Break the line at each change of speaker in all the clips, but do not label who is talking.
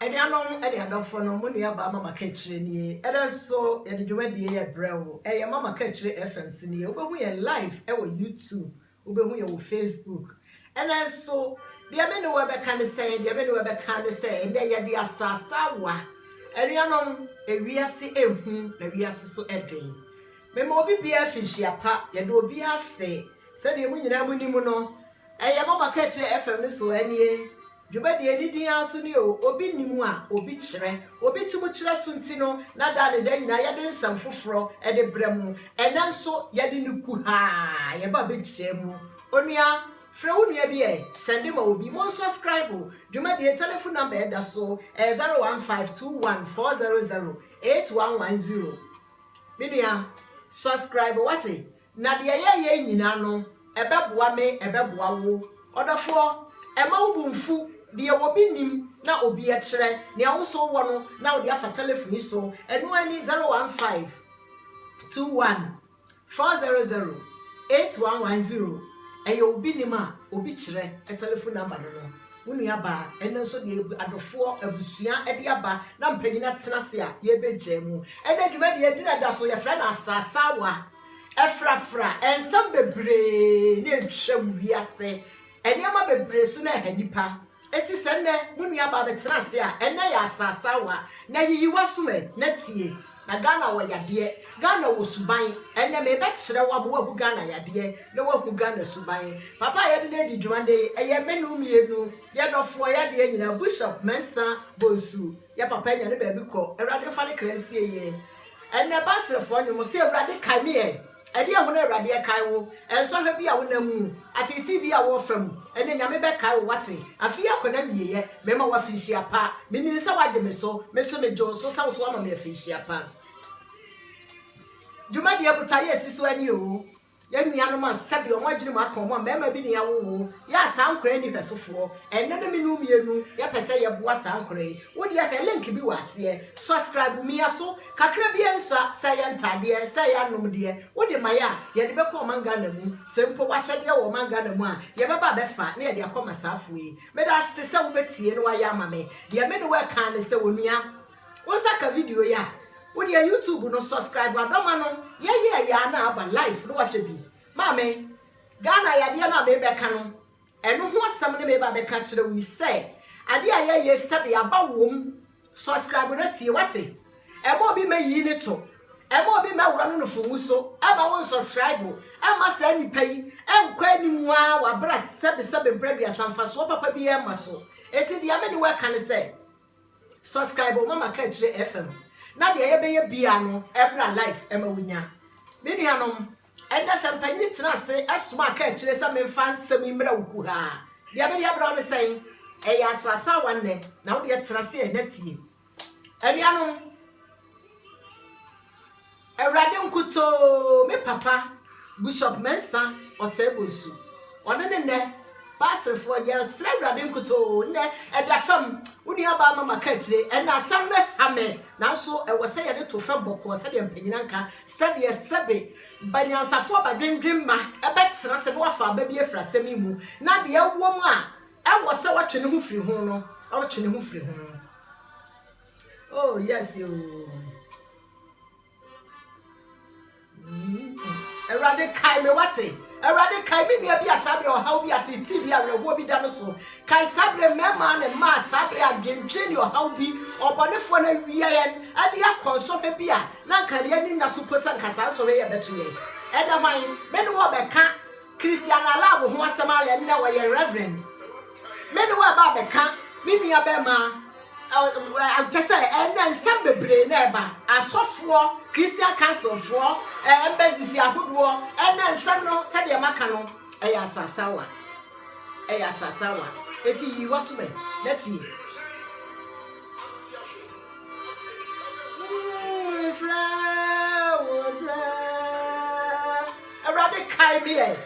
Anuanom ne adɔfoɔ no, mo nuabaa Mama Kakyire nie. Ɛdɛ nso yɛde dwumadie yi ɛbrɛ wo. Ɛyɛ Mama Kakyire FM so nie. Wobɛhu yɛn live ɛwɔ YouTube. Wobɛhu yɛn wɔ Facebook. Ɛnɛ nso deɛ me ne wo ɛbɛka ne sɛ, deɛ me ne wo ɛbɛka ne sɛ, ɛnɛ yɛde asaasawa. Anuanom, ewiase ɛhu na wiase so ɛden. Mema obi biara finhyia pa. Yɛda obi ase. Sɛdeɛ mo nyinaa mo nim no, ɛyɛ Mama Kakyire FM no so ɛnie. Dwumadie a ɛdi din ara so ne o, obi nim a, obi kyerɛ. Obi tumi kyerɛ so nti no, na daa ne daa nyinaa yɛde nsɛm foforɔ de brɛ mo. Ɛnnɛ nso, yɛde no kuhaa yɛba bɛkyia mu. Onua, frɛ wo nua bi ɛ, sɛnde ma obi. Monsuaskraibo dwumadie, telefon nɔmba a ɛda so, ɛyɛ 0152140811 0. Me nua, suaskraibo, woate? Na deɛ yɛyɛ yi nyinaa no, ɛbɛboa me, ɛbɛboa wo. Ɔdɔfoɔ, mma wo bo mfu. Deɛ obi nim na obi kyerɛ, nea wo nso wowɔ no na wode afa telefon yi so, ɛno ara ni, 015 21 400 8110. Ɛyɛ obi nim a obi kyerɛ telefon namba no no. Wo nuabaa, ɛno nso deɛ adɔfoɔ, abusua de aba na mpanyin atena ase a, yɛbɛgyaa mu. Ɛnnɛ dwumadie, yɛgyina da so, yɛfrɛ no Asaasawa. Ɛfrafra nsɛm bebree na atwam wiase nneɛma bebree so na ɛha nnipa. Enti sɛ nnɛ mo nuabaa bɛtena ase a, ɛnnɛ yɛ asaasawa, na yiyi w'asom ɛ, na tie. Na Ghana wɔ yadeɛ, Ghana wɔ suban. Ɛnnɛ merebɛkyerɛ wo ama woahu Ghana yadeɛ, na woahu Ghana suban. Papa a yɛde no adi dwuma nnɛ yi, ɛyɛ me ne wo mmienu, yɛn dɔfoɔ, yadeɛ nyinaa, Bushop Mensah Bonsu. Yɛ papa nya ne baabi kɔ. Awurade mfa ne kra nsie yɛ. Ɛnnɛ Baserefoɔ nnwom, ɔse Awurade kae me ɛ. Ɛdeɛn ho na Awurade ɛkae wo? Ɛnsɔhwɛ bi a wo nam mu? Ateetee bi a wo ɔfa mu? Ɛnnɛ Nyame bɛkae wo wate. Afe yi akɔ n'awieɛ, mema wo afinhyia pa. Me nim sɛ wagye me so, me nso me gye wo so sɛ wo nso wama me afinhyia pa. Dwumadie botaeɛ si so ani oo. Yɛn nuanom a sɛdeɛ wɔn adwenem aka wɔn a mmarima bi na yɛawo wɔn yɛ a saa nkwadaa yi nni hwɛsofoɔ. Ɛnnɛ no me ne wo mmienu yɛpɛ sɛ yɛboa saa nkwadaa yi. Wo deɛ hwɛ link bi wɔ aseɛ. Subscribe mia so. Kakra biara nsua, sɛ ɛyɛ ntaadeɛ, sɛ ɛyɛ anomdeɛ, wo de ma yɛ a, yɛde bɛkɔ ɔman Ghana mu. Sɛ mpo w'akyɛdeɛ wɔ ɔman Ghana mu a, yɛbɛba abɛfa na yɛde akɔ ama saafoɔ yi. Meda wo ase sɛ wobɛtie na woayɛ ama me. Deɛ me ne wo reka ara ne sɛ onua, Wo nsa ka video yi a, wo deɛ YouTube no subscribe a bɛma no yɛyɛ yɛ a na aba live na wahwɛ bi. Maame, Ghana yadeɛ no a merebɛka no, ɛno ho asɛm ne mereba abɛka akyerɛ wo yi sɛ adeɛ a ɛyɛ yie sɛbe aba wom, subscribe na tie wate. Ɛma obi mɛyi ne to, ɛma obi mɛworɔ no nofo mu so, ɛma wo nsubscribe, ɛma saa nipa yi ɛnkɔ anim ara wabra sɛbe sɛbe mprɛ aduasa mfasoɔ papa biara mma so. Enti deɛ me ne wo ɛka ne sɛ. Subscribe o mama kaakyire FM na deɛ yɛbɛyɛ biaa no ɛmmra live ɛma wo nya Me nuanom ɛnnɛ sɛ mpanyini tena ase ɛsoma kaakyire sɛ menfa nsɛm yi mmra wo kuhaa deɛ mede ɛbra wo ne sɛn ɛyɛ asaasawa nnɛ na wo deɛ tena ase ɛnɛ tie Anuanom Awurade nkutoo me papa Bishop Mensah Osei-Bonsu ɔne ne nnɛ Baasrefoɔ yɛsrɛ Awurade nkutoo nnɛ ɛda fam wo nua baa mama ka akyire ɛnna asɛm no ha me nanso ɛwɔ sɛ yɛde to fam bɔkɔɔ sɛdeɛ mpanyina nka sɛdeɛ sɛbe banyansafoɔ badwendwen ma ɛbɛtena sɛ na wafa aba bi afiri asɛm yi mu na deɛ ɛwɔ mu a ɛwɔ sɛ watwe ne ho firi ho no ɔtwe ne ho firi ho. Oh yes ooo. Awurade mm-hmm. kae me wate. Awurade kae me nua bi a saa berɛ ɔhaw bi ate ti bi awerɛhoɔ bi da no so. Kae saa berɛ mmarima ne mmaa saa berɛ adwendwen ne ɔhaw bi ɔbɔnefoɔ no awia yɛn ɛde akɔ nsɔhwɛ bi a na nka yɛn ani nna so po sɛ nka saa nsɔhwɛ yɛ bɛto yɛn. Ɛnɛ hwan me ne wɔ bɛka Christiana love ho asɛm alɛ no dɛ ɔyɛ reverend me ne wɔ ɛba abɛka me nua bɛma kyɛ sɛ ɛnɛ nsɛm bebree na ɛba asɔfoɔ christian councilfoɔ embassies ahodoɔ ɛnɛ nsɛm no sɛdeɛ maka no ɛyɛ asasawa ɛyɛ asasawa eti yi wa so bɛ na tie mm, Awurade kae me ɛ.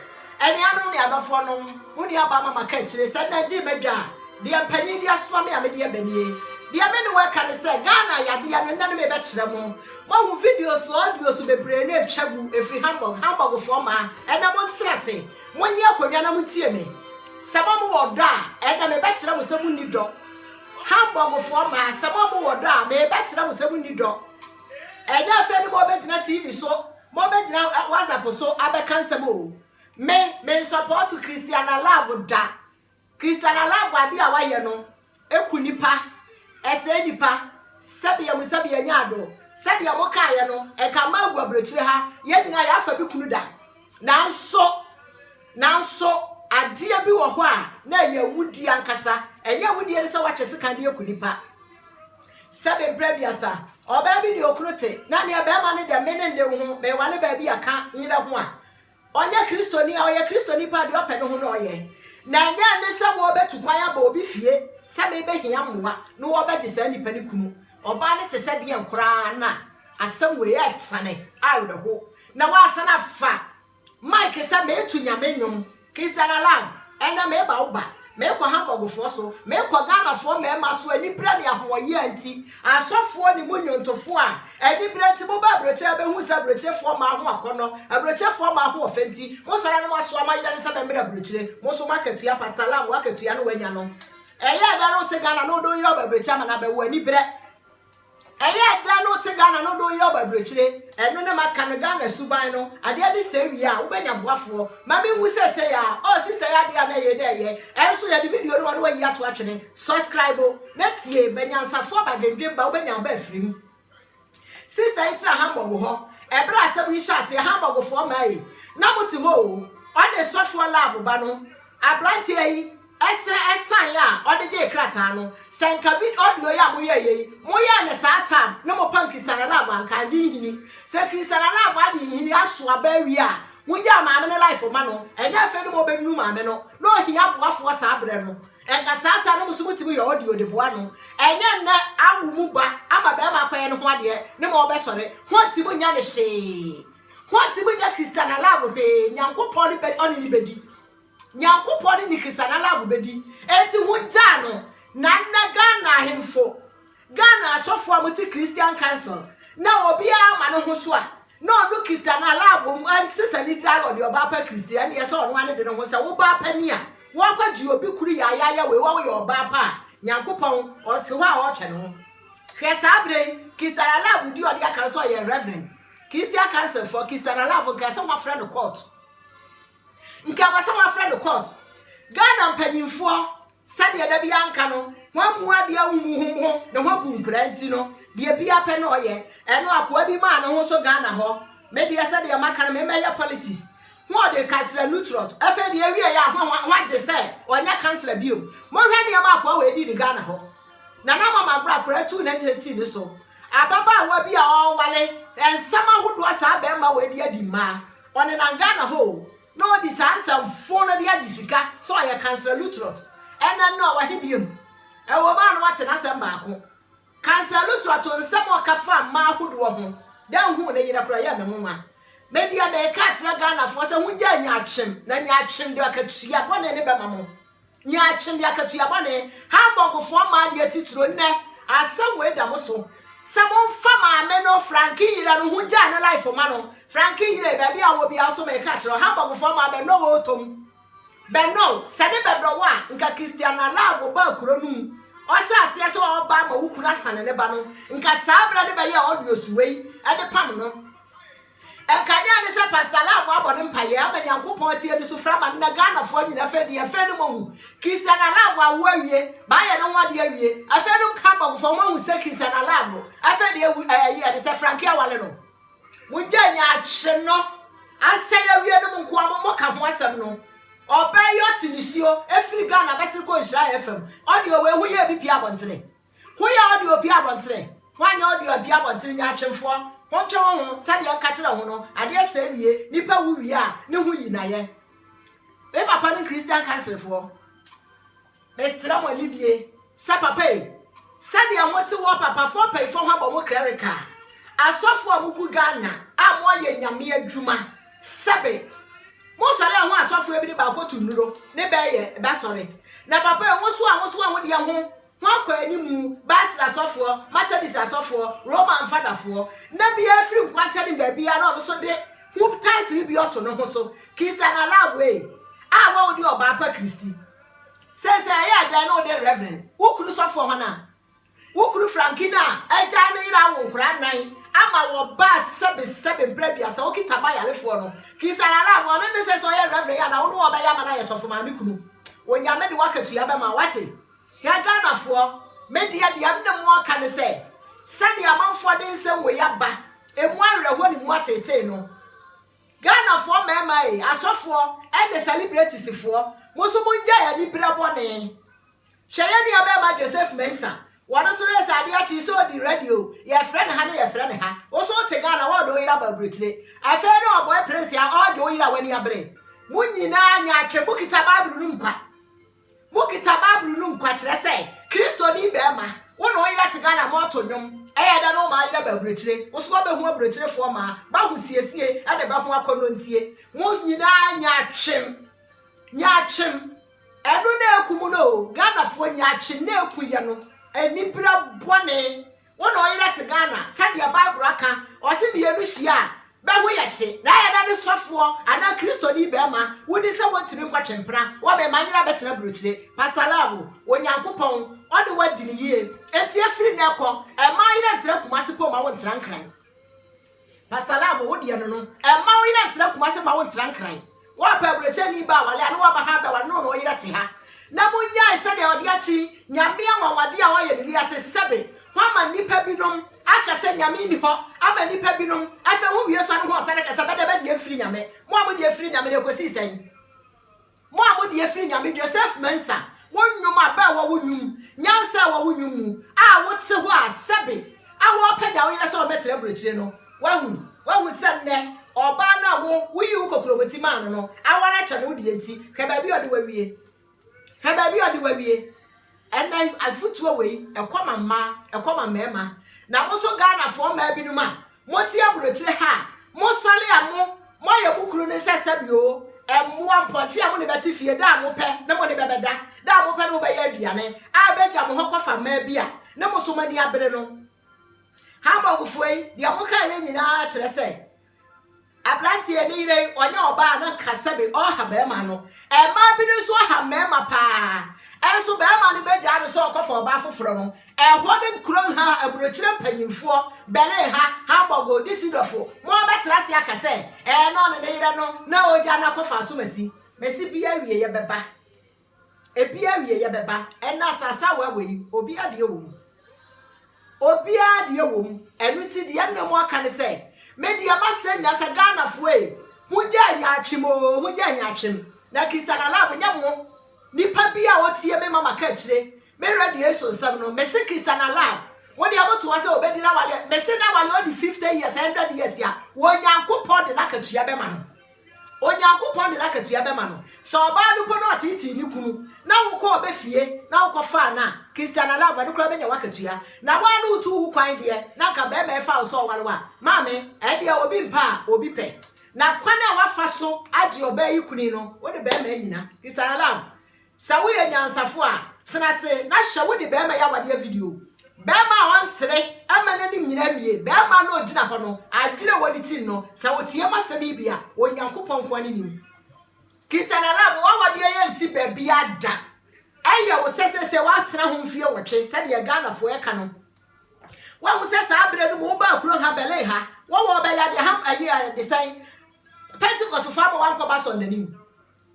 Anuanom ne adɔfoɔ nom, wo nuabaa Mama ka akyire sɛ na gyee m'adwa a, deɛ mpanin de asoma me a mede ɛba nie. Deɛ me ne wo ɛka ne sɛ Ghana yadeɛ no nnɛ no me bɛkyerɛ mo. Moahu videos, audios bebree no ɛtwa gu ɛfiri Hamburg, Hamburgfoɔ mmaa ɛnɛ mo ntena ase, monye akonnwa na montie me. Sɛ mo a mowɔ ɔdɔ a, ɛnɛ me bɛkyerɛ mo sɛ monni dɔ. Hamburgfoɔ mmaa, sɛ mo a mowɔ ɔdɔ a, me bɛkyerɛ mo sɛ monni dɔ. Ɛnyɛ afei ne mo bɛgyina TV so. Mo bɛ gyina WhatsApp so abɛka nsɛm oo. Me, me nsɔpɔɔto Christiana Love da. Christiana Love ade a wayɛ no, ɛku nnipa, ɛsɛe nnipa, sɛbea mu sɛbea nya adɔ. Sɛdeɛ mo kaeɛ no, ɛka mmaa gu aburokyire ha, yɛn nyinaa yɛafa bi kunu da. Nanso, nanso adeɛ bi wɔ hɔ a, na ɛyɛ awudie ankasa. Ɛnyɛ awudie ne sɛ woatwe sekan de aku nnipa. Sɛbe berɛ aduasa, ɔbaa bi ne okunu te, na neɛ barima no dɛ mene nde wo ho, meewale baabi a ka nyerɛ ho a, ɔnyɛ Kristoni a, ɔyɛ Kristoni paa, deɛ ɔpɛ no ho na ɔyɛ. Na ɛnyɛ ɛne sɛ wɔrebɛtu kwan aba obi fie sɛ merebɛhia mmoa na wɔrebɛgye saa nipa no kunu. Ɔbaa no te sɛ deɛn koraa na asɛm wei asiane awerɛho na wɔasan afa Mike sɛ meetu Nyame nnwom, Christian Alan, ɛnnɛ meeba wo ba, meekɔ Hamburgfoɔ so, meekɔ Ghanafoɔ mmarima so aniberɛ ne ahoɔyea nti, asɔfoɔ ne mo nnwontofoɔ a aniberɛ nti moba aburokyire bɛhuu sɛ aburokyirefoɔ mmaa ho akɔnnɔ, aburokyirefoɔ mmaa ho ɔfɛ nti mosɔre na moasoa mo ayerɛne sɛ mɛmmrɛ aburokyire, mo nso moakatua, Pastor Alan woakatua na woanya no. Ɛyɛɛ dɛn na wote Ghana na wode wo yere aba aburokyire ama no abɛwo, aniberɛ. Ɛyɛ dɛn na wote Ghana na wode wo yere aba aburokyire? Ɛno ne maka no Ghana suban no. Adeɛ bi sɛe wie a, wobɛnya boafoɔ. Ma menwu seesei ara. Oh sister yi adeɛ a na ɛyɛ na ɛyɛ. Ɛnso yɛde video no ma na wayi ato atwene. Subscribe na tie, ba nyansafoɔ ba dwendwen ba wobɛnya aba afiri mu. Sister yi tena Hamburg hɔ. Ɛberɛ a asɛm yi hyɛ aseɛ Hamburgfoɔ mmaa yi na mote hɔ o. Ɔne sɔfoɔ love ba no. Aberanteɛ yi Ɛsɛ ɛsan a ɔde gyee krataa no sɛ nka vid audio yi a moyɛɛ yei moyɛɛ no saa tam ne mo pam Christiana love anka agye nhini sɛ Christiana love agye nhini aso aba awie a mongyaa maame no life ma no ɛnyɛ afei ne mo ɔbɛnunu maame no na ɔhia aboafoɔ saa berɛ no ɛnka saa tam no mo so motumi yɛ audio de boa no ɛnyɛ nnɛ awo mu ba ama bɛrima akɔyɛ ne ho adeɛ ne mo ɔbɛsɔre ho nti monyɛ no hwee ho nti monyɛ Christiana love hwee Nyankopɔn ne bɛ ɔne ne bɛdi Nyankopɔn ne ne Christian alafo bɛdi enti hongyaa no na nnɛ Ghana ahemfo, Ghana asɔfo a wɔte Christian council na obiara ma ne ho so a na ɔno Christian alafo ɛnse sɛ ne dira na ɔde ɔbaa pa Christian ɛne ɛsɛ ɔno ane de ne ho sɛ wo baa pa ni a wɔkɔ gye obi kuru yaayaaya wei wa woyɛ ɔbaa pa a Nyankopɔn ɔte hɔ a ɔtwɛn ho hwɛ saa berɛ yi Christian alafo di ɔde aka sɛ ɔyɛ reverend Christian council fɔ Christian alafo nka sɛ wɔafrɛ no court Nka wɔ sɛ wafrɛ no court. Ghana mpanyimfoɔ, sɛdeɛ da biara nka no, wɔammu adeɛ ahumu ho ho, ne ho abu nkura nti no, deɛ biara pɛ na ɔyɛ. Ɛno akoa bi maa ne ho so Ghana hɔ. Me deɛ sɛdeɛ maka no, memmɛyɛ politics. Ho ɔde kansla Luttrot. Afei deɛ ɛwieɛ a, ho ho agye sɛ ɔnyɛ kansla bio. Monhwɛ nneɛma akoa wei di ne Ghana hɔ. Nana ama mabrɛ akora tuu ne nte sii ne so. Ababaawa bi a ɔrewale, nsɛm ahodoɔ saa bɛrima wei de adi mmaa. Ɔnenam Ghana hɔ o na ɔdi saa nsɛm fo no de agye sika sɛ ɔyɛ Kansla Luttrot. Ɛnɛ no ɔwɔ he biom? Ɛwom a na wate n'asɛm baako. Kansla Luttrot nsɛm a ɔka faa mmaa ahodoɔ ho, dɛ nhuu ne yerɛ koraa ɛyɛɛ me nwonwa. Me deɛ meeka akyerɛ Ghanafoɔ sɛ hongyae nyaatwem, na nyaatwem de akatua bɔne ne bɛma mo. Nea Twene Akatua Bɔne, Hamburgfoɔ mmaa deɛ titiro nnɛ, asɛm wei da mo so sɛ momfa maame no, Frankie yere no, ho ngyaa ne life ma no. Frankie yere, baabi a wowɔ biara nso meka kyerɛ wo, Hamburgfoɔ mmaa bɛnnɔ wo ɔɔtɔ mu. Bɛnnɔ wo. Sɛ ne bɛdɔ wo a, nka Christiana Love baa kuro no mu, ɔhyɛ aseɛ sɛ ɔreba ama wo kunu asane ne ba no, nka saa berɛ ne bɛyɛɛ audios wei de pam no. Nkanea ne sɛ Pastor Love abɔ ne mpaeɛ ama Nyankopɔn atie ne sufrɛ ama no na Ghanafoɔ nyina afei deɛ afei no moahu Christiana Love awo awie maayɛ ne ho adeɛ awie afei no Hamburgfoɔ moahu sɛ Christiana Love afei deɛ awu ɛyi eh, ɛde sɛ Frankie awale no mongya nya akye no asɛe awie no mo nkoa mo moka ho asɛm no ɔbaa yi ɔte nisuo ɛfiri Ghana bɛsere kɔ nhyira FM ɔde ɔwɔ ehu yɛ bi pia abɔntene Ho yɛ ɔde obi abɔntere, ho anyɛ ɔde obi abɔntere nyaatwemfoɔ, ho ntwe ho ho, sɛdeɛ nka kyerɛ ho no, adeɛ sɛɛ wie, nipa wu wie a, ne ho yi nayɛ. Me papa ne Christian kanselfoɔ, mesrɛ mo anidie, sɛ papa ei, sɛdeɛ mo te wɔ papafoɔ mpayifoɔ ho abɔ mo krɛreka, asɔfoɔ a mo gu Ghana a mo ayɛ nyame adwuma, sɛbe, mo sɔre a ho asɔfoɔ ebi ne baako to nnuro, ne bɛɛ yɛ, bɛsɔre, na papa ei, mo so a mo so a mo deɛ ho, Wɔakɔ anim, Basel asɔfoɔ, Methodist asɔfoɔ, Roman Fadafoɔ, na biara firi nkwankyɛn ne baabiara na ɔno nso de ho title bi ɔto ne ho so, Christian Alavue, a wɔ wode ɔbaa pa Kristi. Sɛ sɛ ɛyɛ dɛn na wode Reverend, wo kunu sɔfoɔ hɔ no a, wo kunu Frankie no a agyae ne yere awo nkwadaa nnan ama wɔ Basel sɛbesɛbe mprɛ aduasa, ɔkita ba yarefoɔ no, Christian Alavue, ɔno ne sɛ sɛ ɔyɛ Reverend yɛ anaa wo ne wɔn bɛyɛ ama no ayɛ sɔfo maame kunu. Onyame de w'akatua bɛma wo, wate? Yɛn Ghanafoɔ, me deɛ deɛ me ne mo reka ne sɛ, sɛdeɛ amanfoɔ de nsɛm wei aba, ɛmu awerɛhoɔ ne mu ateetee no, Ghanafoɔ mmarima ei, asɔfoɔ ne sɛlibretisifoɔ, mo nso mongyae aniberɛ bɔne. Hwɛ yɛn nuabarima Joseph Mensah, wɔn nso yɛ sɛ adeɛ kye sɛ ɔdi radio, yɛfrɛ no ha na yɛfrɛ no ha, wo nso wote Ghana wɔɔde wo yere aba aburokyire. Afei na ɔbɔe prince a ɔɔgye wo yere a w'ani abere. Mo nyinaa nyaatwem, mokita Bible no mu kwa. Mokita bible no mu kwa kyerɛ sɛ kristoni bɛɛma wo ne wo yere te Ghana mo to nwom ɛyɛ dɛ ne wo maa yerɛ bɛ aburokyire wo so wabɛhu aburokyirefoɔ maa ba ho siesie ɛne bɛ ho akɔnnɔ ntie mo nyinaa nyaatwem nyaatwem ɛno na ɛku mo no o Ghanafoɔ nyaatwem na ɛku yɛ no anibira bɔne Wo na ɔyera te Ghana sɛdeɛ bible aka ɔse mmienu hyia a bɛho yɛ hye na ɛyɛ dɛ ne sɔfoɔ anaa kristoni bɛɛma wodi sɛ wɔntumi nkɔ twempena wɔ bɛɛma nyera bɛtena burokyire Pastor Love Onyankopɔn ɔne wo adi no yie enti ɛfiri nnɛ kɔ ɛmaa yerɛ ntra Kumasi pɔ ma wo ntra Nkran. Pastor love wo deɛ no no mma wo yerɛ ntra Kumasi mma wo ntra nkran woapɛ aburokyɛni ba awale a ne waba ha bɛware ne wo na wo yerɛ te ha na mo nyae sɛdeɛ ɔde akyi nyame anwanwade a ɔyɛ ne wiase sɛbe ho ama nnipa binom aka sɛ nyame nni hɔ ama nnipa binom afɛ ho wie sɔre ho ɔsane kasa bɛdɛ bɛdeɛ mfiri nyame mo a mo deɛ firi nyame na ɛkɔsii sɛn Mo a mode afiri Nyame dua, Sɛf Mɛnsa, wo nnwom a bɛ wɔ wo nnwom, nyansa a ɛwɔ wo nnwom mu a wote hɔ a sɛbe a wɔrepagya wo yerɛ sɛ ɔbɛtra aburokyire no, wahu, wahu sɛ nnɛ ɔbaa no a wo, woyii wo kokuromoti maa no no aware akyɛ no wo deɛ nti, hwɛ baabi a ɔde wo awie. Hwɛ baabi a ɔde wo awie. Ɛnna afotuo wei, ɛkɔ ma mmaa, ɛkɔ ma mmarima. Na mo nso Ghanafoɔ mmaa binom a Mote aburokyire ha a, mosɔre a mo, moayɛ mo kunu no nsɛsɛ bi oo, mmoa, mpɔnkye a mo ne bɛte fie da a mopɛ ne mo ne bɛ bɛda, da a mopɛ ne mo bɛyɛ aduane, a ɛbɛgya mo hɔ kɔfa mmaa bi a ne mo so mo ani abere no. Hamburgfoɔ yi, deɛ mokaeɛ nyinaa kyerɛ sɛ, Aberanteɛ ne yere yi ɔnyɛ ɔbaa na nka sɛbe ɔha barima no. Mmaa bi no nso aha mmarima paa. Nso barima no bɛgyaa no sɛ ɔkɔfa ɔbaa foforɔ no. Ɛhɔ ne kurom ha aburokyire mpanyinfoɔ, Berlin ha, Hamburg o, Düsseldorf o, mo ara bɛtena ase aka sɛ ɛɛ na ɔne ne yere no na ɔregyaa no akɔfa asomasi. Mesi bi awieɛ bɛba. Ebi awieɛ bɛba. Ɛnna asase a wɔawe yi, obiara deɛ wɔ mu. Obiara deɛ wɔ mu. Ɛno nti deɛ ɛnna mu aka ne sɛ, me deɛ masɛ nyinaa sɛ Ghanafoɔ ei, mongyae nyaatwem oo, mongyae nyaatwem. Na Christianalive nyɛ mo. Nipa bi a ɔtie me ma maka akyire, me radio yi so nsɛm no, mese Christianalive, mo deɛ motoa sɛ ɔbɛdi n'awaleɛ, mese n'awaleɛ ɔdi 50 years, 100 years a, Onyankopɔn de n'akatua bɛma no. Onyankopɔn de n'akatua bɛma no. Sɛ ɔbaa no mpo na ɔteetee ne kunu na wokɔɔ bɛ fie na wokɔfaa no a, Christiana Love, ɛno koraa bɛnya w'akatua. Na wo ara na wotuu wo kwan deɛ, na anka barima yi faa wo sɛ ɔware wo a, maame, ɛndeɛ obi mpa a, obi pɛ. Na kwan a woafa so agye ɔbaa yi kuni no, wo ne barima annyina. Christiana Love, Sɛ woyɛ nyansafo a, tena ase na hwɛ wo ne barima yi awadeɛ video. Barima a ɔnsere mma n'anim nyina awie, barima no a ɔgyina hɔ no, adwene a ɛwɔ ne tirim no, sɛ woteam asɛm yi bi a, Onyankopɔn nko ara ne nim. Christian Alaba, w'awadeɛ yi ansi baabiara da. Ɛyɛ wo sɛ seesei woatena ho mfeɛ nwɔtwe sɛdeɛ Ghanafoɔ ɛka no. Woahu sɛ saa berɛ no mu wobaa kuro ha, Berlin ha, wɔwɔ ɔbɛyɛ adeɛ ha, ayi, desɛn, Pentecostfoɔ ama woankɔba asɔrdanim.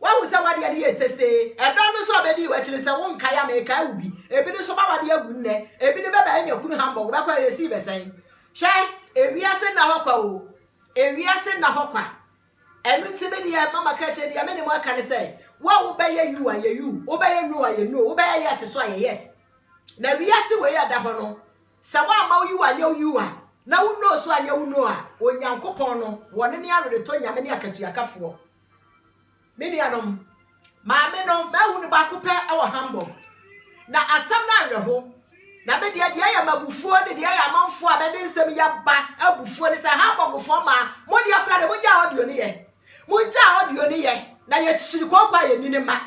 Woahu sɛ w'adeɛ no yɛ tesee. Ɛda no nso a bɛdii w'akyi no, sɛ wonkae a, mekae wo bi. Ebi no nso, mawade agu nnɛ. Ebi no, bɛba anya kunu hambɔg. Wobɛkɔ a, yɛsii bɛ sɛn? Hwɛ! Ewiase nna hɔ kwa oo. Ewiase nna hɔ kwa. Ɛno nti, me deɛ, mma maka akyire, deɛ me ne mo aka ne sɛ, wo a wobɛyɛ you a, yɛ you, wobɛyɛ no a, yɛ no, wobɛyɛ yes nso a, yɛ yes. Na wiase wei a ɛda hɔ no, sɛ woamma wo you anyɛ wo you a, na wo no nso anyɛ wo no a, Onyankopɔn no, wɔne ne aweretɔ Nyame ne akatuakafoɔ. Me nuanom, maame no, mahu no baako pɛ wɔ Hamburg. Na asɛm no awerɛho. Na me deɛ, deɛ ɛyɛ m'abufuo ne deɛ ɛyɛ amanfoɔ a bɛde nsɛm yi aba abufuo ne sɛ, Hamburgfoɔ maa mo deɛ koraa deɛ, mongyaa audio no yɛ. Mongyaa audio no yɛ, na yɛkyiri kooko a yɛnni ne mma.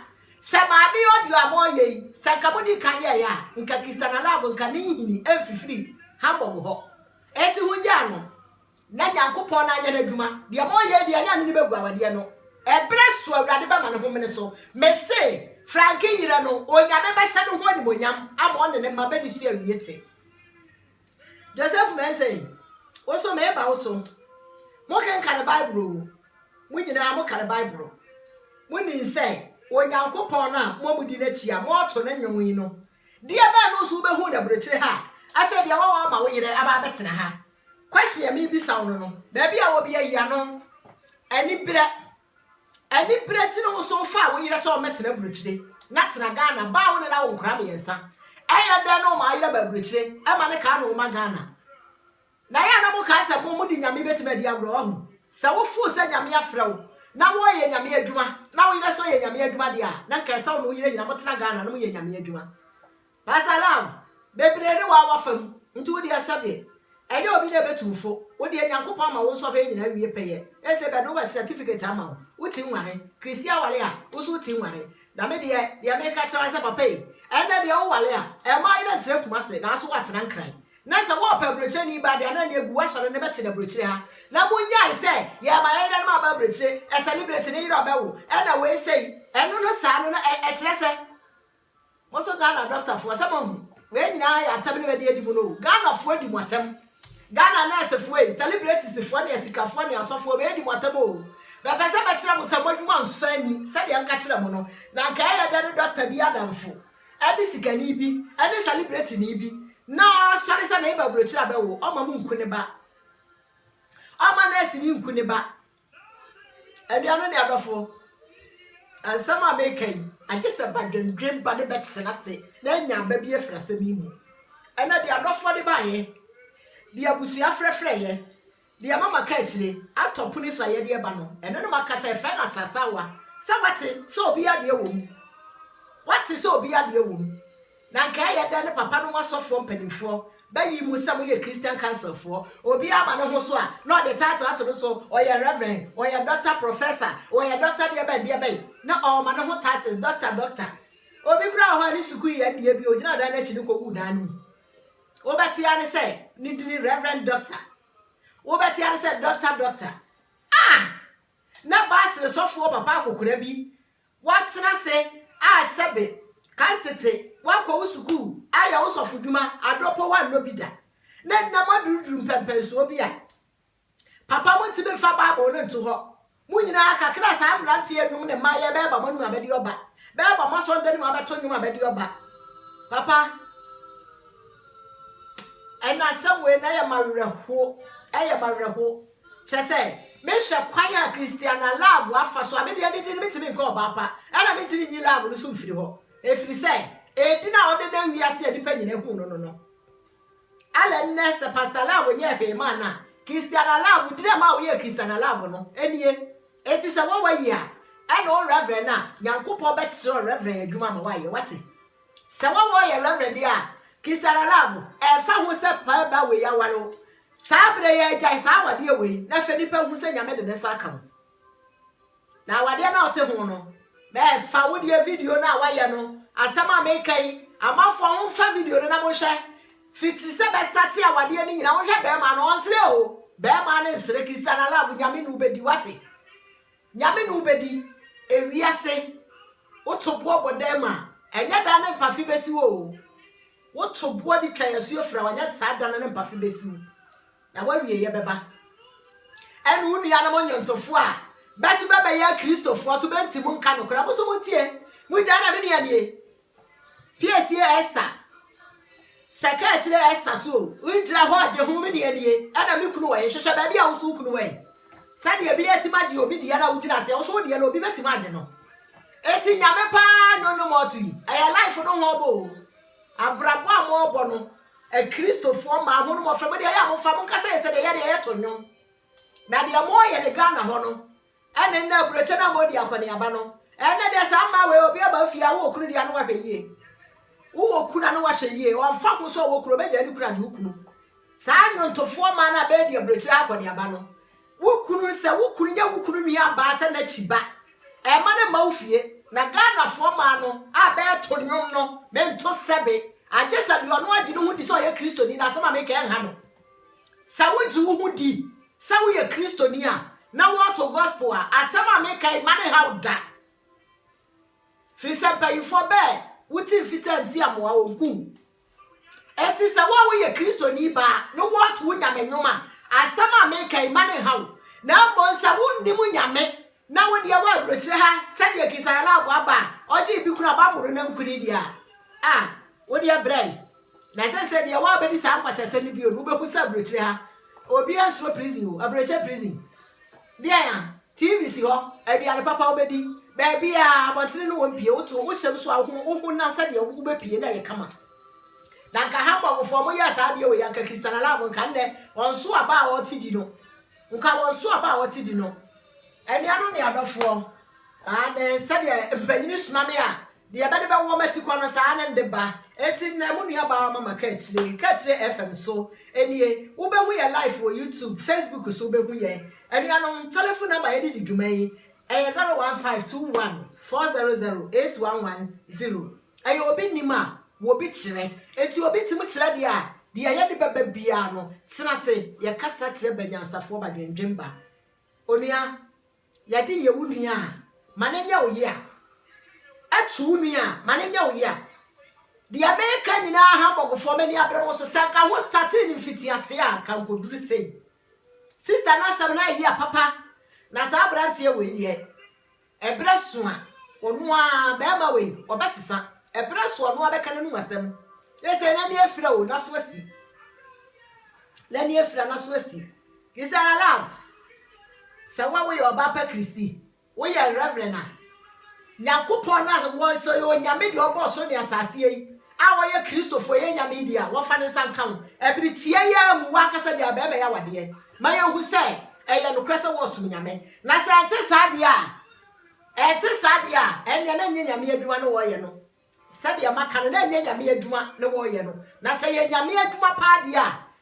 Sɛ maame yi audio a moreyɛ yi, sɛ anka modii kan yɛeɛ a, anka Christiana Love nka ne nhini mfifiri Hamburg hɔ. Enti hongyaa no. Na Nyankopɔn na anyɛ n'adwuma, deɛ moreyɛ yi deɛ ɛnyɛ ɛno ne bɛgu awadeɛ no, ɛberɛ so Awurade bɛma ne homene so, mese, Franke yerɛ no, Onyame bɛhyɛ ne ho animuonyam ama ɔne ne mma bɛdi so awie te. Joseph Mensei, wo nso mereba wo so, mo kenkane Bible oo, mo nyinaa mo kane Bible, mo nim sɛ Onyankopɔn no a mo a mo di n'akyi a moreto no nnwom yi no, deɛ bɛn no nso wo bɛhuu no aburokyire ha a, afei deɛ wɔwɔ ma wo yerɛ aba abɛtena ha, Question a mebisa wo no no, baabi a obi ayi ano, aniberɛ, aniberɛ nti no wo so wofaa wo yerɛ sɛ ɔmmɛtena aburokyire na tena Ghana, baa wo ne no awo nkora mmiɛnsa, ɛyɛ dɛn na ɔmaa yerɛ ba aburokyire, ɛma ne kaa no woma Ghana? Na yɛ na mo kaa sɛ mo mo de nyame bɛtumi adi agorɔ, wahu? Sɛ wo foo sɛ nyame afrɛ wo na wo yɛ nyame adwuma, na wo yerɛ so yɛ nyame adwuma deɛ a, na nka ɛsɛ wo ne wo yerɛ nyina mo tena Ghana na mo yɛ nyame adwuma. Pastor Lam, bebree ne wo a wɔafa mu, nti wo deɛ sɛbe ɛyɛ obi na ɛbɛtu wo fo, wo deɛ Nyankopɔn ama wo nsɔhwɛ nyinaa wie pɛyɛ, ese bɛde wobɛ certificate ama wo, wo ti nware, Christy aware a, wo nso wo ti nware, na me deɛ, deɛ me ka kyerɛ wo ara ne sɛ papa ei, ɛnnɛ deɛ wo ware a, ɛmma wo yere ntra Kumasi, nanso wo atena Nkran, na sɛ wo pɛ abrokyire ni ba deɛ na ɛnneɛ gu wo asɔre no bɛte no abrokyire ha, na mo nyae sɛ yɛma yɛn yere nom aba abrokyire, ɛ celebrate ne yere a ɔbɛwo, ɛna wei sei, ɛno no saa no na ɛ ɛkyerɛ sɛ. Mo nso Ghana dɔktafoɔ sɛ moahu, wei nyinaa yɛ atɛm ne bɛde adi mo no o, Ghanafoɔ di mo atɛm, Ghana nɛɛsefoɔ ei, sɛlibretisifoɔ ne asikafoɔ ne asɔfoɔ bɛɛdi mo atɛm oo, bɛpɛ sɛ bɛkyerɛ mo sɛ moadwuma nsɔ ani sɛdeɛ nka kyerɛ mo no, na nka ɛyɛ dɛ ne dɔkta bi adamfo ne sikani bi ne sɛlibretini bi na ɔsɔre sɛ meba aburokyire abɛwo, ɔmma mo nku ne ba, ɔmma nɛɛseni nku ne ba, Anuanom ne adɔfo, nsɛm a meka yi, agye sɛ badwendwen ba no bɛtena ase na anya aba bi afiri asɛm yi mu. Ɛnna deɛ adɔfoɔ de baeɛ, deɛ abusua frɛfrɛeɛ, deɛ mama ka akyire, atɔ pono so a yɛde reba no, ɛno na maka kyerɛ, frɛ no asaasawa, sɛ wate sɛ obiara deɛ wɔ mu. Wate sɛ obiara deɛ wɔ mu. Na anka ɛyɛ dɛn ne papa nom asɔfoɔ mpanimfoɔ bɛyi mo sɛ moyɛ Christian Councilfoɔ? Obiara ma ne ho so a, na ɔde title ato no so, ɔyɛ Reverend, ɔyɛ Doctor, Professor, ɔyɛ Doctor deɛ bɛn deɛ bɛn, na ɔma ne ho titles, Doctor, Doctor. Obi koraa wɔ hɔ a ne sukuu yɛ ndeɛ bi, ɔgyinaa dan no akyi no kɔguu dan no mu. Wobɛte ara ne sɛ ne dini Reverend Doctor. Wobɛte ara ne sɛ Doctor, Doctor. Ah! Na Basel sɔfoɔ papa akokora bi Woatena ase a sɛbe kan tete woakɔ wo sukuu ayɛ wo sɔfodwuma adɔ po woannɔ bi da, na nnɛ moaduruduru mpɛnpɛnsoɔ bi a papa montumi mfa Bible no nto hɔ. Mo nyinaa kakra a saa mmeranteɛ nnwom ne mmaeɛ bɛɛba mo anom abɛde ɔba, bɛɛba mo asɔreda no mu abɛto nnwom abɛde ɔba. Papa, ɛnna asɛm wei na ɛyɛ m'awerɛhoɔ, ɛyɛ m'awerɛhoɔ. Kyerɛ sɛ, mehwɛ kwan a Christiana love afa so a me deɛ adidi no metumi nkɔ ɔbaa pa ɛna mentumi nyi love no so mfiri hɔ ɛfiri sɛ ɛdin a ɔde nam wiase a nnipa nyinaa hu no no no ɛlɛ nnɛ sɛ Pastor Love nyɛɛ hwee maa no a Christiana Love dina maa woyɛɛ Christiana Love no ɛnie ɛti sɛ wɔwɔ yi a ɛna wo reverend no a Nyankopɔn bɛkyerɛ reverend adwuma ma woayɛ wate sɛ wɔwɔ yɛ reverend deɛ a Christiana Love ɛfa ho sɛ paa ba wei aware wo Saa berɛ yi agyae saa awadeɛ wei na afei nipa hu sɛ Nyame de ne nsa aka mu. Na awadeɛ no a ɔte ho no, mɛfa wo deɛ video no a wayɛ no, asɛm a meka yi, amanfoɔ momfa video no na monhwɛ. Fiti sɛ bɛstate awadeɛ no nyina, wonhwɛ bɛɛma no, ɔnsere o, bɛɛma no nsere, Christiana Love, Nyame ne wo bɛdi, wate? Nyame ne wo bɛdi ewiase Wo to boɔ bɔ dan mu a ɛnyɛ dan no mpafe bɛsi wo o Wo to boɔ de twa yasuo fra wo a ɛnyɛ saa dan no mpafe bɛsi wo Na w'awieɛ bɛba Ɛne wo nuanom nnwontofoɔ a bɛso bɛbɛyɛ akristofoɔ so bɛnti mo nka nokorɛ Mo so mo ntie mo gyae na me nua nie Piesie Ester sɛ kaakyire Ester so o ngyina hɔ gye ho me deɛ nie ɛna me kunu wɔ he hwehwɛ baabi a wo so wo kunu wɔ he sɛdeɛ ebi atimi agye obi deɛ na wo gyina aseɛ wo so wo deɛ no obi bɛtimi agye no eti nyame paa nyo no mɔto yi ɛyɛ life no ho ɔbɔ o abrabɔ a mo ɔbɔ no akristofoɔ maa ho no mɔfɛ mo deɛ yɛ a mo fa mo nkasa yɛ sɛ deɛ yɛ deɛ yɛ to nwom na deɛ mo yɛ ne Ghana hɔ no Ɛne nna aburokyi no ama odi akɔneaba no. Ɛnnɛ deɛ saa mmaa wei obi aba fie a wowɔ kunu deɛ ano wahwɛ yie. Wowɔ kunu ano wahwɛ yie. Ɔmfa ho sɛ ɔwɔ kunu ɔbɛgyae ne kunu agye wo kunu. Saa nnwontofoɔ mmaa no a bɛredi aburokyire akɔneaba no. Wo kunu sɛ wo kunu nyɛ wo kunu nua baa sɛ n'akyi ba. Ɛmma no mma wo fie. Na Ghanafoɔ mmaa no a bɛreto nnwom no mento sɛbe. Agye sɛ deɛ ɔno agye ne ho di sɛ ɔyɛ Kristoni na asɛm a mereka yi nha no. Sɛ wogye wo ho di sɛ woyɛ Kristoni a na woato gospel a, asɛm a meka yi mma no nhaw wo da. Firi sɛ mpanyimfoɔ bɛɛ wote mfitaa nti amoa wɔn kum. Enti sɛ wo a woyɛ Kristoni baa na woato wo Nyame nnwom a, asɛm a meka yi mma no nhaw wo. Na mmom sɛ wonnim Nyame Na wo deɛ wɔ aburokyire ha sɛdeɛ kisaralafo aba a ɔgye bi kura ba moro nankuni deɛ a ah wo deɛ brɛ na sɛ sɛ deɛ wɔ bɛdi saa nkwasasɛm no bio no wobɛhu sɛ aburokyire ha obi ansuro prison o aburokyɛ prison deɛ a tv si hɔ aduane papa wobɛdi baabi a abɔntene no wɔn pie woto wohyɛm so a wohu wohu na sɛ deɛ wobɛpie na yɛ kama na nka ha mbɔfoɔ mo yɛ saa deɛ wɔ yɛ nka kisaralafo nka nnɛ ɔnso aba a ɔte di no Nka wɔn so aba a wɔte di no. Anuanom ne adɔfoɔ, aane, sɛdeɛ mpanin soma me a, deɛ bɛde bɛwɔ m'akyi kɔ no, saa ara ne mede ba. Enti nnɛ, mo nuabaa Mama ka akyire, ka akyire FM so, nie, wobɛhu yɛn live wɔ YouTube, Facebook so, wobɛhu yɛn. Anuanom, telefon namba a yɛde di dwuma yi, ɛyɛ 015214008110. Ɛyɛ obi nim a wɔbi kyerɛ. Enti obi tumi kyerɛ deɛ a, deɛ yɛde bɛba biara no, tena ase, yɛ kasa kyerɛ ba nyansafoɔ ba dwendwen ba. Onua, yɛde yɛ wo nua a, ma no nyɛ wo yea. Ɛto wo nua a, ma no nyɛ wo yea. Deɛ meka nyinaa Hamburgfoɔ, m'ani abere mo so. Sɛ anka ho startee no mfitiaseɛ a, anka nkɔduru sei. Sister no asɛm no ayɛ yea papa, na saa aberanteɛ wei deɛ, Ɛberɛ so a, ɔno ara, barima wei, ɔbɛsesa. Ɛberɛ so a, ɔno ara bɛka n'anom asɛm. Yɛ sɛ n'ani afira o, n'aso asi. N'ani afira, n'aso asi. He said aloud, Sɛ wo a woyɛ ɔbaa pa Kristi, woyɛ Reverend a, Nyankopɔn no a wɔsɛ ɔyɛ Onyame deɛ ɔbɔɔ soro ne asaseɛ yi, a wɔyɛ Kristofo yɛ nyame di a, wɔmfa ne nsa nka wo. Bere tiaa yi ara mu, w'ankasa de abɛɛma yɛ awadeɛ ma yɛahu sɛ ɛyɛ nokorɛ sɛ wɔresom nyame. Na sɛ ɛnte saa deɛ a, ɛnte saa deɛ a, ɛnneɛ na ɛnyɛ nyame adwuma na wɔreyɛ no. Sɛdeɛ maka no, na ɛnyɛ nyame adwuma na wɔreyɛ no. Na sɛ ɛyɛ nyame adwuma paa deɛ a,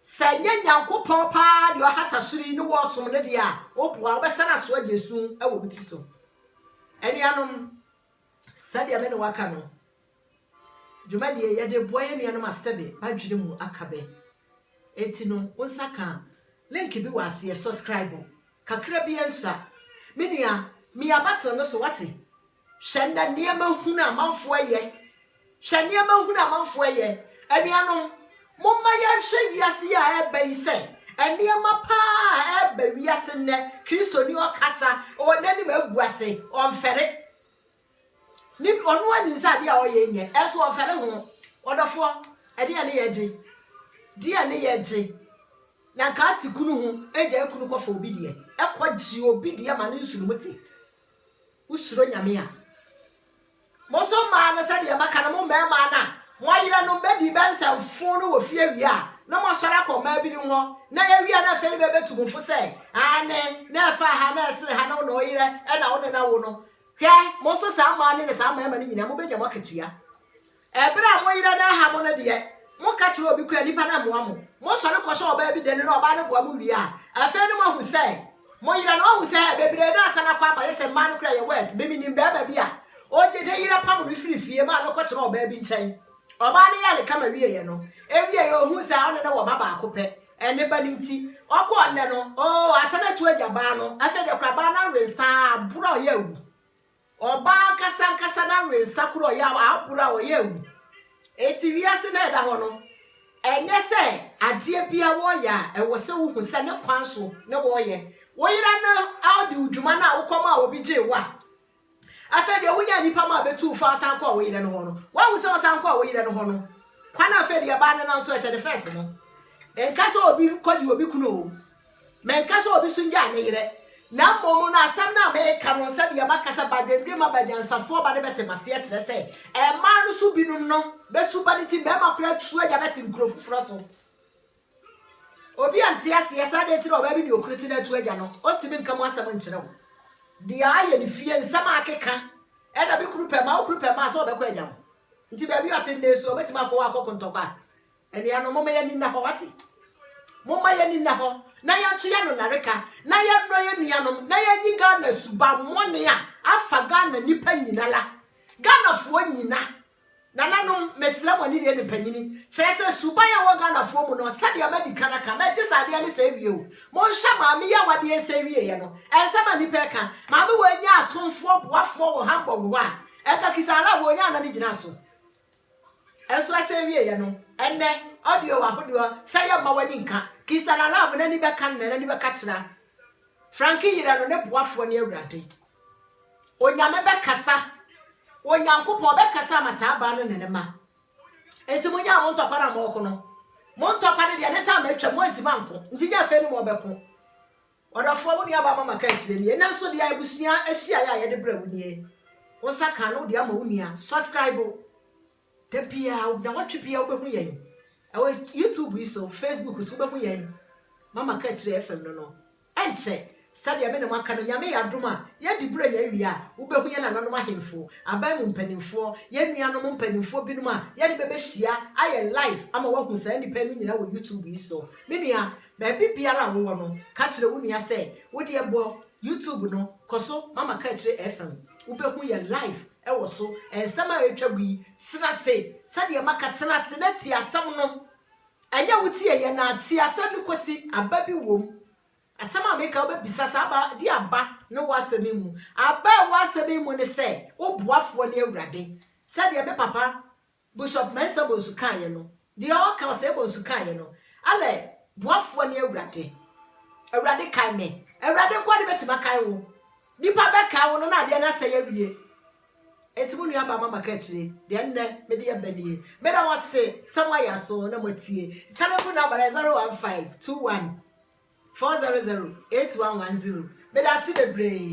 Sɛ ɛnyɛ Nyankopɔn paa deɛ ɔhata soro yi ne woɔsom no deɛ a, woboa, wobɛsane asoa deɛ su wɔ wo ti so. Anuanom, sɛdeɛ me ne waka no, dwumadie yɛde boa yɛ nuanom a sɛbe badwene mu aka bɛ. Eti no, wo nsa ka link bi wɔ aseɛ, subscribe kakra bi nsua. Me nua, mia button no so, wate? Hwɛ nnɛ nneɛma hunu a amanfoɔ reyɛ. Hwɛ nneɛma hunu a amanfoɔ reyɛ. Anuanom, momma yɛnhwɛ wiase yi a ɛreba yi sɛ nneɛma pa ara a ɛreba wiase nnɛ, Kristoni ɔkasa, ɔwɔ n'anim agu ase, ɔmfɛre. Ne, ɔno ara nim sɛ adeɛ a ɔyɛ nyɛ, ɛnso ɔmfɛre ho. Ɔdɔfoɔ, ɛdeɛ ne yɛgye? Deɛ ne yɛgye? Na nka ate kunu ho, gyae kunu kɔfa obi deɛ, kɔgye obi deɛ ma ne nsono mu te. Wosuro Nyame a. Mo nso mmaa no, sɛdeɛ maka no, mo mmarima no a mo yerenom bɛdii bɛ nsɛmfoo no wɔ fie awie a, na moasɔre akɔ mmaa binom hɔ, na awie a na afei no bɛbɛtu mo fo sɛ, Aane, na ɛfa ha, na ɛsene ha, na wo ne wo yerɛ na wo ne no awo no. Hwɛ, mo nso saa mmaa no ne saa mmarima no nyinaa, mobɛnya mo akatua. Ɛberɛ a mo yera no aha mo no deɛ, moka kyerɛ obi koraa a, nnipa no mmoa mo. Mosɔre kɔhyɛ ɔbaa bi dane na ɔbaa no boa mo wie a, afei ne moahu sɛ mo yera no. Wahu sɛ, hɛ, bebree no asan akɔ ama, ayɛ sɛ mmaa no koraa yɛ worse. Me, menim barima bi a ɔgye ne yera pamo no firi fie maa no kɔtenaa ɔbaa bi nkyɛn. Ɔbaa no yɛɛ ne kama wieeɛ no, ɛwieeɛ ɔhuu sɛ ɔne no wɔ ba baako pɛ. Ne ba no nti, ɔkɔɔ nnɛ no, oo, asan atu agya baa no. Afei deɛ koraa baa no awe nsa ara, aboro a ɔyɛ awu. Ɔbaa ankasa ankasa no awe nsa koro a ɔyɛ a aboro a ɔyɛ awu. Enti wiase no a ɛda hɔ no, ɛnyɛ sɛ adeɛ biara wɔreyɛ a ɛwɔ sɛ wohu sɛ ne kwan so na wɔreyɛ. Wo yere no adi wo dwuma no a wokɔmaa obi gyee wo a, afei deɛ wonyaa nipa ma abɛtu wo fo a wosan kɔɔ wo yere no hɔ no, woahu sɛ wosan kɔɔ wo yere no hɔ no, kwan a afei deɛ ɛbaa no nam so ɛkyɛ ne fɛs no. Nka sɛ obi kɔgye obi kunu o, Menka sɛ obi so gyaa ne yerɛ, na mmom no asɛm no a meka no sɛ deɛ maka sɛ Badwendwema Bagyansafoɔ ba no bɛte maseɛ kyerɛ sɛ mmaa no so binom no bɛ su ba no nti mmarima koraa atu agya bɛte nkuro foforɔ so. Obi a nte aseɛ sɛ adɛn nti na ɔbaa bi ne okunu te na atu agya no, ɔntumi nka mu asɛm nkyerɛ wo. Deɛ ayɛ ne fie, nsɛm a akeka, ɛna me kunu pɛ mmaa, wo kunu pɛ mmaa sɛ ɔbɛkɔ agya ho. Nti baabi ɔte nnɛ su, ɔbɛtumi akɔ hɔ akɔko ntɔkwa. Anuanom, momma yɛn ani nna hɔ, wate? Momma yɛn ani nna hɔ na yɛnto yɛn ano nnareka, na yɛnnɔ yɛn nuanom, na yɛnyi Ghana subammɔne a afa Ghana nnipa nyinara, Ghanafoɔ nyina. Nananom, mesrɛ mo, ne deɛ ne mpanyini, kyerɛ sɛ suban a ɛwɔ Ghanafoɔ mu no, sɛdeɛ madi kan aka, mɛgye sɛ adeɛ no sɛe wie o. Monhwɛ Maame yi a wadeɛ resɛe wieɛ no, ɛnsɛm a nnipa reka, Maame wei nyaa asomfoɔ, boafoɔ wɔ Hamburg hɔ a, ɛnka Kisaaraa wei ɔnyaa nna no gyinaa so. Nso ɛsɛ wieɛ no, ɛnnɛ, audio wɔ ahodoɔ sɛ yɛ mma w'ani nka, Kisa la love n'ani bɛka no na n'ani bɛka kyerɛ a Frankie yerɛ no, ne boafoɔ ne Awurade Onyame bɛkasa, Onyankopɔn ɔbɛkasa ama saa baa no ne ne mma Nti mo nyaa mo ntɔkwa no a mo ɔko no, mo ntɔkwa no deɛ ne time atwam mo antimi anko, nti nyɛ afei ne mo ɔbɛko. Ɔdɔfoɔ, wo nuabaa Mama kaa akyire nie, nanso deɛ abusua ahyiaeɛ a yɛde brɛ wo nie, wo nsa kaa na wode ama wo nua, subscribe da biara, nnawɔtwe biara wobɛhu yɛn ɛwɔ YouTube yi so, Facebook so wobɛhu yɛn Mama kaa akyire FM no no, ɛnkyɛ sɛdeɛ me ne mo aka no Nyame yɛ adom a yɛn diberɛ nya awie a wobɛhu yɛn nananom ahemfo, aban mu mpanimfoɔ, yɛn nuanom mpanimfoɔ binom a yɛde bɛbɛhyia ayɛ live ama woahu saa nnipa yi no nyinaa wɔ YouTube yi so, me nua. Baabi biara a wowɔ no, ka kyerɛ wo nua sɛ, Wo deɛ bɔ YouTube no, kɔ so ma Makakyire FM. Wobɛhu yɛn live wɔ so. Nsɛm a ɛretwa gu yi, tena ase sɛdeɛ maka, tena ase na tie asɛm no. Ɛnyɛ wotieeɛ no ara, tie asɛm no kɔsi aba bi wom. Asɛm a meka, wobɛbisa sɛ, Aba, deɛ aba ne wo asɛm yi mu? Aba a ɛwɔ asɛm yi mu ne sɛ, wo boafoɔ ne Awurade. Sɛdeɛ me papa Bishop Mensah Bonsu kaeɛ no, deɛ ɔka Osei Bonsu kaeɛ no, Alɛ, boafoɔ ne Awurade. Awurade kae me. Awurade nkoa ne bɛtumi akae wo. Nipa bɛkae wo no na adeɛ no asɛe awie. Enti mo nua baa ma maka akyire, deɛ nnɛ mede ɛba nie. Meda mo ase sɛ mo ayɛ aso na mo atie. Telephone number no yɛ 015 21 400 8110. Meda ase bebree.